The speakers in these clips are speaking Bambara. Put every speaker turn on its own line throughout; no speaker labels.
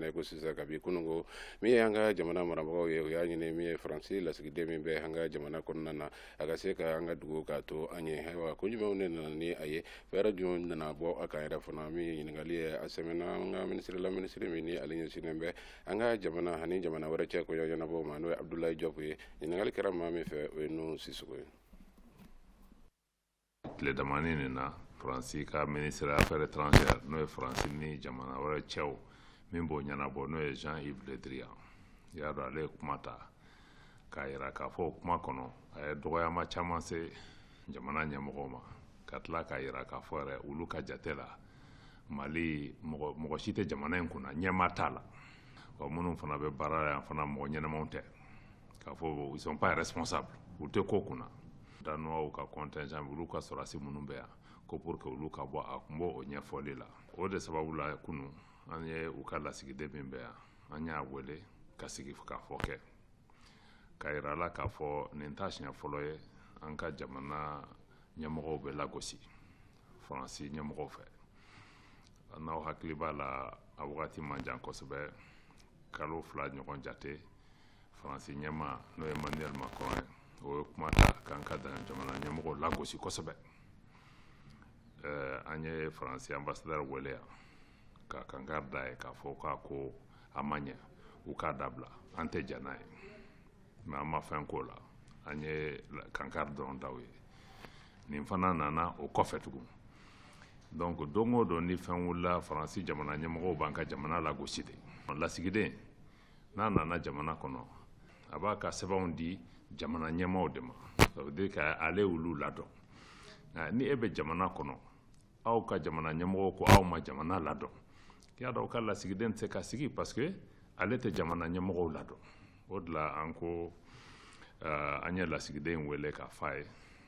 ne ko sisan kabi kunun ko min y'an ka jamana marabagaw ye o y'a ɲini min ye faransi lasigiden min bɛ an ka jamana kɔnɔna na a ka se ka an ka dugu k'a to an ye ayiwa ko jumɛnw de nana ni a ye fɛɛrɛ jumɛn nana bɔ a kan yɛrɛ fana min ye ɲininkali ye a sɛmɛna an ka minisiri la minisiri min ni ale ɲɛsinnen bɛ an ka jamana ani jamana wɛrɛ cɛ ko ɲɛnabɔ ma n'o ye abudulayi jɔpu ye ɲininkali kɛra maa min fɛ o ye nu sisoko ye tile damani nin na faransi ka ministre affaire étrangère n'o ye faransi ni jamana wɛrɛ cɛw min b'o ɲɛnabɔ n'o ye jean yves le drian i y'a dɔn ale ye kuma ta k'a yira k'a fɔ o kuma kɔnɔ a ye dɔgɔyama caman se jamana ɲɛmɔgɔw ma ka tila k'a yira k'a fɔ yɛrɛ olu ka jate la mali mɔgɔ mɔgɔ si tɛ jamana in kunna ɲɛmaa t'a la wa minnu fana bɛ baara la yan fana mɔgɔ ɲɛnamaw tɛ k'a fɔ ils sont pas responsables u tɛ ko kunna Danois ka contingent olu ka sɔrɔdasi minnu bɛ yan ko pour que olu ka bɔ a kun b'o o ɲɛfɔli la o de sababu la kunun an ye u ka lasigiden min bɛ yan an y'a wele ka sigikafɔ kɛ k'a yira a la k'a fɔ nin t'a siɲɛ fɔlɔ ye an ka jamana ɲɛmɔgɔw bɛ lagosi faransi ɲɛmɔgɔw fɛ n'aw hakili b'a la a wagati man jan kosɛbɛ kalo fila ɲɔgɔn jate faransi ɲɛmaa n'o ye manuel macron ye o ye kuma ta k'an ka jamana ɲɛmɔgɔ lagosi kosɛbɛ eh, an ye faransi anbasadɛr wele yan ka kankari d'a ye k'a fɔ k'a ko a ma ɲɛ u k'a dabila an tɛ jɛn n'a ye mais an ma fɛn k'o la an ye kankari dɔrɔn da u ye nin fana nana o kɔfɛ tugun donc don o don ni fɛn wulila faransi jamana ɲɛmɔgɔw b'an ka jamana lagosi de lasigiden n'a nana jamana kɔnɔ a b'a ka sɛbɛnw di jamana ɲɛmaaw de ma ça veut dire k'ale olu ladɔn nka ni e bɛ jamana kɔnɔ aw ka jamana ɲɛmɔgɔw ko aw ma jamana ladɔn i y'a dɔn aw ka lasigiden tɛ se ka sigi parce que ale tɛ jamana ɲɛmɔgɔw ladɔn o de la an ko uh, an ye lasigiden in wele k'a fɔ a ye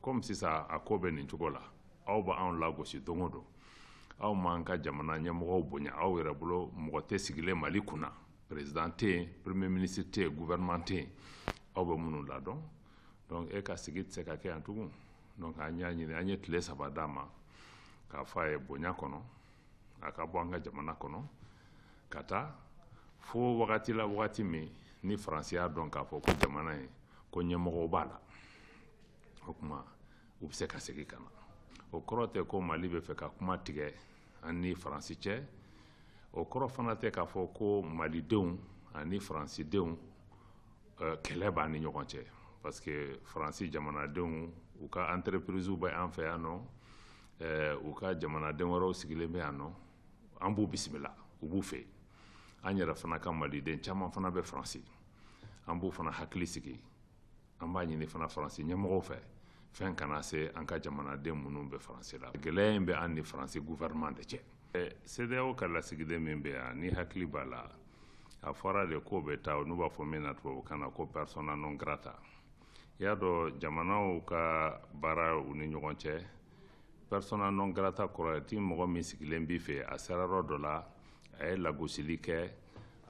komi sisan a ko bɛ nin cogo la aw b'anw lagosi don o don aw m'an ka jamana ɲɛmɔgɔw bonya aw yɛrɛ bolo mɔgɔ tɛ sigilen mali kunna président tɛ yen premier ministre tɛ yen gouvernement tɛ yen aw bɛ minnu ladɔn donc e ka sigi tɛ se ka kɛ yan tugun donc an y'a ɲini an ye tile saba d'a ma k'a fɔ a ye bonya kɔnɔ a ka bɔ an ka jamana kɔnɔ ka taa fo wagati la wagati min ni faransi y'a dɔn k'a fɔ ko jamana ye ko ɲɛmɔgɔw b'a la o tuma u bɛ se ka segin ka na o kɔrɔ tɛ ko mali bɛ fɛ ka kuma tigɛ an ni faransi cɛ o kɔrɔ fana tɛ k'a fɔ ko malidenw ani faransidenw eh, kɛlɛ b'an ni ɲɔgɔn cɛ parce que faransi jamanadenw u ka entreprisew bɛ an fɛ yan nɔ eh, u ka jamanaden wɛrɛw sigilen bɛ yan nɔ an b'u bisimila u b'u fɛ an yɛrɛ fana ka maliden caman fana bɛ faransi an b'u fana hakili sigi an b'a ɲini fana faransi ɲɛmɔgɔw fɛ fɛn kana se an ka jamanaden minnu bɛ faransi la gɛlɛya in bɛ an ni faransi gouvernement de cɛ CEDEAO ka lasigiden min bɛ yan n'i hakili b'a la a fɔra de k'o bɛ taa n'u b'a fɔ min na tubabukan na ko persona non grata i y'a dɔn jamanaw ka baara u ni ɲɔgɔn cɛ persona non grata kɔrɔ ye de mɔgɔ min sigilen b'i fɛ a sera yɔrɔ dɔ la a ye lagosili kɛ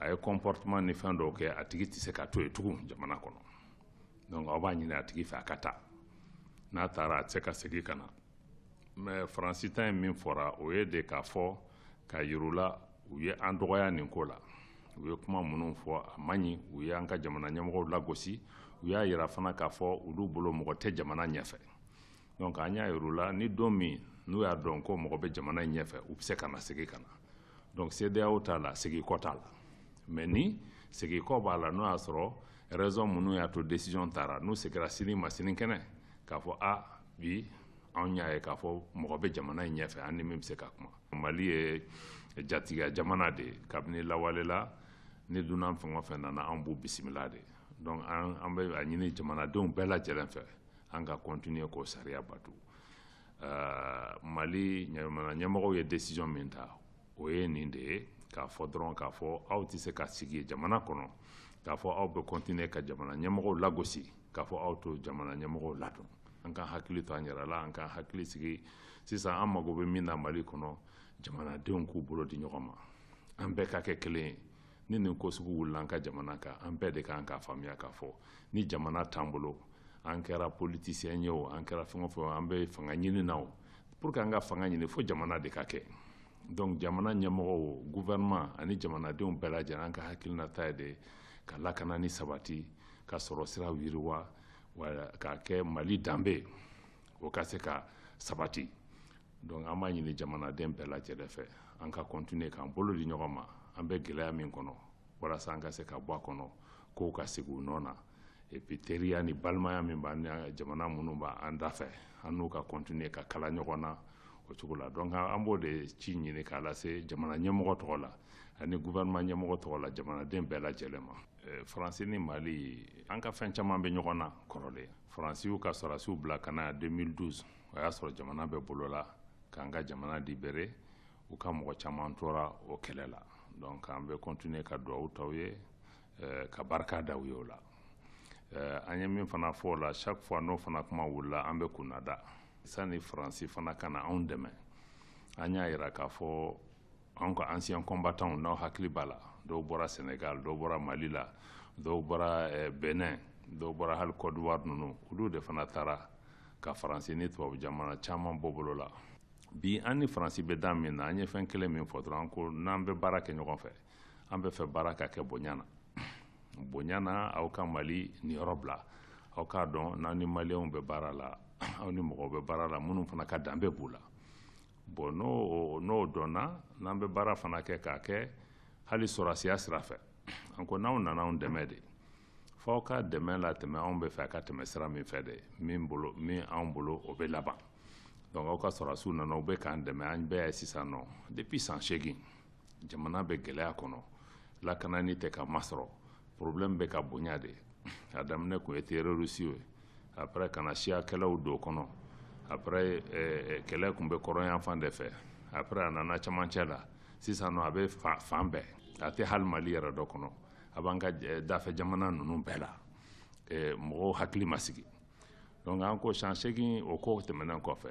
a ye comportement ni fɛn dɔw kɛ a tigi tɛ se ka to yen tugun jamana kɔnɔ dɔnku aw b'a ɲini a tigi fɛ a ka taa n'a taara a tɛ se ka segin ka na mɛ faransi ta ye min fɔra o ye de k'a fɔ k'a yir'u la u ye an dɔgɔya nin ko la u ye kuma minnu fɔ a man ɲi u ye an ka jamana ɲɛmɔgɔ lagosi u y'a jira fana k'a fɔ olu bolo mɔgɔ tɛ jamana ɲɛfɛ dɔnku an y'a yir'u la ni don min n'u y'a dɔn ko mɔgɔ bɛ jamana in ɲɛfɛ u bɛ se ka na segin ka na donc CEDEAO ta la segin kɔ t'a la mais nin segin kɔ b'a la n'o y'a sɔrɔ raison minnu y'a to décision tara n'u segira sini ma sinikɛnɛ k'a fɔ a bi anw y'a ye k'a fɔ mɔgɔ bɛ jamana in ɲɛfɛ an ni min bɛ se ka kuma mali ye jatigiya jamana de ye kabini lawale la ni dunan fɛn o fɛn nana anw b'u bisimila de donc an bɛ a ɲini jamanadenw bɛɛ lajɛlen fɛ an ka continuer k'o sariya bato mali jamana ɲɛmɔgɔw ye desizɔn min ta o ye nin de ye k'a fɔ dɔrɔn k'a fɔ aw tɛ se ka sigi jamana kɔnɔ k'a fɔ aw bɛ kɔntine ka jamana ɲɛmɔgɔw lagosi k'a fɔ aw t'o jamana ɲɛmɔgɔw ladon an k'an hakili to an yɛrɛ la an k'an hakili sigi sisan an mago bɛ min na mali kɔnɔ jamanadenw k'u bolo di ɲɔgɔn ma an bɛɛ ka kɛ kelen ye ni nin ko sugu wulila an ka jamana kan an bɛɛ de ka kan k'a faamuya k'a fɔ ni jamana t'an bolo an kɛra politisiyɛn ye o an kɛra fɛn o fɛn an bɛ fanga ɲini na o pour que an ka fanga ɲini fo jamana de ka kɛ donc jamana ɲɛmɔgɔw gouvernement ani jamanadenw bɛɛ lajɛlen an ka hakilinata ye de ka lakana ni sabati ka sɔrɔ siraw yiriwa k'a kɛ mali danbe o ka se ka sabati donc an b'a ɲini jamanaden bɛɛ lajɛlen fɛ an ka kɔntine k'an bolo di ɲɔgɔn ma an bɛ gɛlɛya min kɔnɔ walasa an ka se ka bɔ a kɔnɔ kow ka sigi u nɔ na epi teriya ni balimaya min b'an ni jamana minnu b'an da fɛ an n'u ka kɔntine ka kala ɲɔgɔn na o cogo la donc an b'o de ci ɲini k'a lase jamana ɲɛmɔgɔ tɔgɔ la ani gouvernement ɲɛmɔgɔ tɔgɔ la jamanaden bɛɛ lajɛlen ma faransi ni mali an ka fɛn caman bɛ ɲɔgɔn na kɔrɔlen faransiw ka sɔrɔdasiw bila ka na 2012 o y'a sɔrɔ jamana bɛ bolo la k'an ka jamana libere u ka mɔgɔ caman tora o kɛlɛ la donc an bɛ continuer ka duwawu ta u ye eh, ka barika da u ye o la eh, an ye min fana fɔ o la chaque fois n'o fana kuma wulila an bɛ kunnada sani faransi fana ka na anw dɛmɛ an y'a yira k'a fɔ anw ka ancien combattants n'aw hakili b'a la dɔw bɔra Sénégal dɔw bɔra Mali la dɔw bɔra eh, Benin dɔw bɔra hali Côte d'Ivoire ninnu olu de fana taara ka faransi ni tubabu jamana caman bɔ bolo la bi an ni faransi bɛ dan min na an ye fɛn kelen min fɔ dɔrɔn ko n'an bɛ baara kɛ ɲɔgɔn fɛ an b'a fɛ baara ka kɛ bonya na bonya na aw ka mali niyɔrɔ bila aw k'a dɔn n'aw ni maliyɛnw bɛ baara la aw ni mɔgɔw bɛ baara la minnu fana ka danbe b'u la bɔn n'o n'o dɔnna n'an bɛ baara fana kɛ k'a kɛ hali sɔrɔdasiya sira fɛ an ko n'aw nana anw dɛmɛ de f'aw ka dɛmɛ latɛmɛ anw b'a fɛ a ka tɛmɛ sira min fɛ de min bolo min anw bolo o bɛ laban donc aw ka sɔrɔdasiw nana u bɛ k'an dɛmɛ an bɛɛ y'a ye sisan nɔ depuis san seegin jamana bɛ gɛlɛya kɔnɔ lakana nin tɛ ka masɔrɔ problème bɛ ka bonya de a daminɛ tun ye terorisiw ye après ka na siya kɛlɛw don kɔnɔ après eh, eh, kɛlɛ tun bɛ kɔrɔnyanfan de fɛ après a nana camancɛ la sisan nɔ a bɛ fan bɛɛ a tɛ hali mali yɛrɛ dɔrɔn kɔnɔ a b'an ka eh, dafɛ jamana ninnu bɛɛ la mɔgɔw hakili ma sigi donc an ko san seegin o ko tɛmɛnen kɔfɛ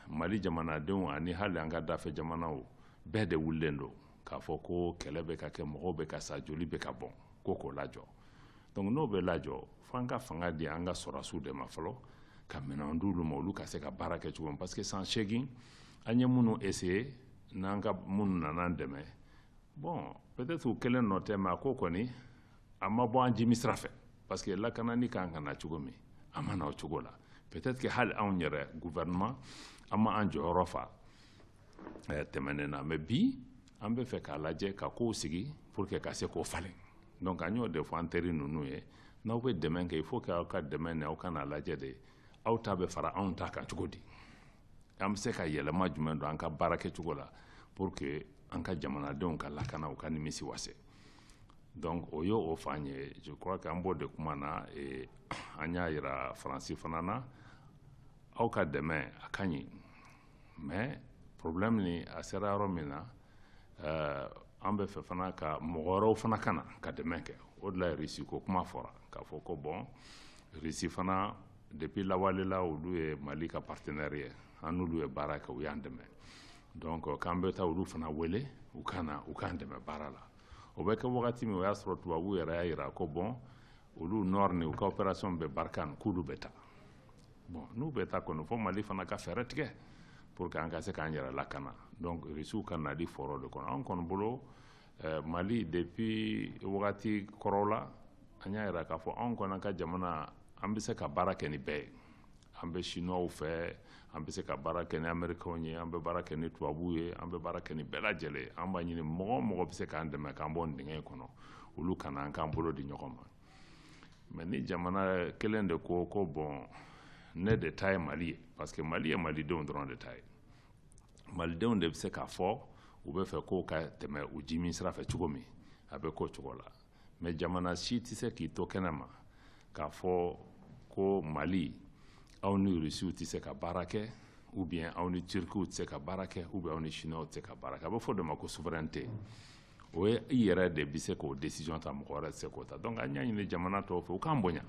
mali jamanadenw ani hali an ka dafɛ jamanaw bɛɛ de wulilen don k'a fɔ ko kɛlɛ bɛ ka kɛ mɔgɔw bɛ ka sa joli bɛ ka bɔn ko k'o lajɔ donc n'o bɛ lajɔ fo an ka fanga di an ka sɔrɔdasiw de ma fɔlɔ ka minɛn di olu ma olu ka se ka baara kɛ cogo min parce que san seegin an ye minnu essayer n'an ka minnu nana an dɛmɛ bɔn peut-être u kelen nɔ tɛ mais a ko kɔni a ma bɔ an jimi sira fɛ parce que lakana nin kan ka na cogo min a ma na o cogo la peut-être que hali anw yɛrɛ gouvernement an ma an jɔyɔrɔ fa eh, tɛmɛnen na mais bi an b'a fɛ k'a lajɛ ka kow sigi pour que ka se k'o falen donc an y'o de fɔ an teri ninnu ye n'aw bɛ dɛmɛ kɛ il faut que aw ka dɛmɛ nin aw ka n'a lajɛ de aw ta bɛ fara anw ta kan cogo di an bɛ se ka yɛlɛma jumɛn don an ka baara kɛcogo la pour que an ka jamanadenw ka lakana u ka nimisi wasa donc o ye o fan ye je crois que an b'o de kuma na eh, an y'a yira faransi fana na aw ka dɛmɛ a ka ɲi mais problème nin a sera yɔrɔ min na eh, an b'a fɛ fana ka mɔgɔ wɛrɛw fana ka na ka dɛmɛ kɛ o de la risi ko kuma fɔra k'a fɔ ko bɔn risi fana Depuis lawale la olu ye Mali ka partenaire ye an n'olu ye baara kɛ u y'an dɛmɛ donc euh, k'an bɛ taa olu fana wele u ka na u k'an dɛmɛ baara la o bɛ kɛ wagati min o y'a sɔrɔ tubabuw yɛrɛ y'a jira ko bon olu ni u ka opération Barkhane k'olu bɛ taa bon n'u bɛ taa kɔni fo mali fana ka fɛɛrɛ tigɛ pour que an ka se k'an yɛrɛ lakana donc risiw ka nali fɔra o de kɔnɔ an kɔni bolo eh, mali depuis wagati kɔrɔw la an y'a yira k'a fɔ anw kɔni ka jamana an bɛ se ka baara kɛ ni bɛɛ ye an bɛ sinuwaw fɛ an bɛ se ka baara kɛ ni amerikɛnw ye an bɛ baara kɛ ni tubabuw ye an bɛ baara kɛ ni bɛɛ lajɛlen ye an b'a ɲini mɔgɔ o mɔgɔ bɛ se k'an dɛmɛ k'an bɔ nin dingɛ in kɔnɔ olu ka na an k'an bolo di ɲɔgɔn ma mais ni jamana kelen de ko ko bon ne de ta ye mali ye parce que mali ye malidenw dɔrɔn de ta ye malidenw de bɛ se k'a fɔ u bɛ fɛ ko ka tɛmɛ u ji min sira fɛ cogo min a bɛ k'o cogo la mais jamana si tɛ se k'i to kɛnɛ ma k'a fɔ ko mali aw ni rusiw tɛ se ka baara kɛ ou bien aw ni turkiw tɛ se ka baara kɛ ou bien aw ni chinois tɛ se ka baara kɛ a bɛ f'o de ma ko souveraineté o ye i yɛrɛ de bɛ se k'o décision ta mɔgɔ wɛrɛ tɛ se k'o ta donc an y'a ɲini jamana tɔw fɛ u k'an bonya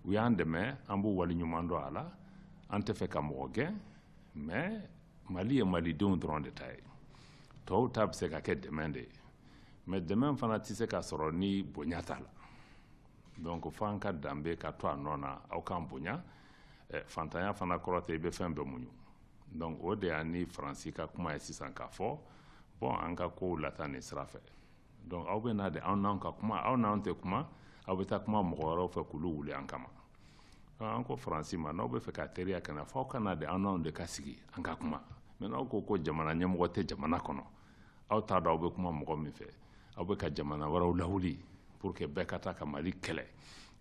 u y'an dɛmɛ an b'u waleɲuman dɔn a la an tɛ fɛ ka mɔgɔ gɛn mais mali ye malidenw dɔrɔn de ta ye tɔw ta bɛ se ka kɛ dɛmɛ de ye mais dɛmɛ fana tɛ se ka sɔrɔ ni bonya t'a la donc fo an ka danbe ka to a nɔ na aw k'an bonya eh, fantanya fana kɔrɔ tɛ i bɛ fɛn bɛɛ muɲu donc o de y'an ni faransi ka kuma ye sisan k'a fɔ bon an ka kow lataa nin sira fɛ donc aw bɛ na de anw n'aw ka kuma aw n'anw tɛ kuma aw bɛ taa kuma mɔgɔ wɛrɛw fɛ k'olu wuli an kama an ko faransi ma n'aw bɛ fɛ ka teriya kana fo aw ka na de anw n'aw de ka sigi an ka kuma mais n'aw ko ko jamana ɲɛmɔgɔ tɛ jamana kɔnɔ aw t'a dɔn aw bɛ kuma mɔgɔ min fɛ aw bɛ ka jamana wɛrɛw lawuli pour que bɛɛ ka taa ka mali kɛlɛ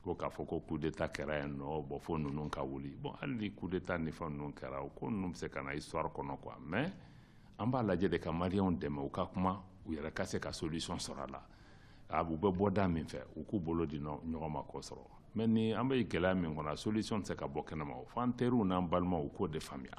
ko k'a fɔ ko coup d'état kɛra yan non bon fo ninnu ka wuli bon hali ni coup d'état ni fɛn ninnu kɛra o ko ninnu bɛ se ka na histoire kɔnɔ quoi mais an b'a lajɛ de ka maliyɛnw dɛmɛ u ka kuma u yɛrɛ ka se ka solution sɔrɔ a la a u bɛ bɔ da min fɛ u k'u bolo di ɲɔgɔn ma k'o sɔrɔ mais ni an bɛ gɛlɛya min kɔnɔ solution tɛ se ka bɔ kɛnɛma o f'an teriw n'an balimaw u k'o de faamuya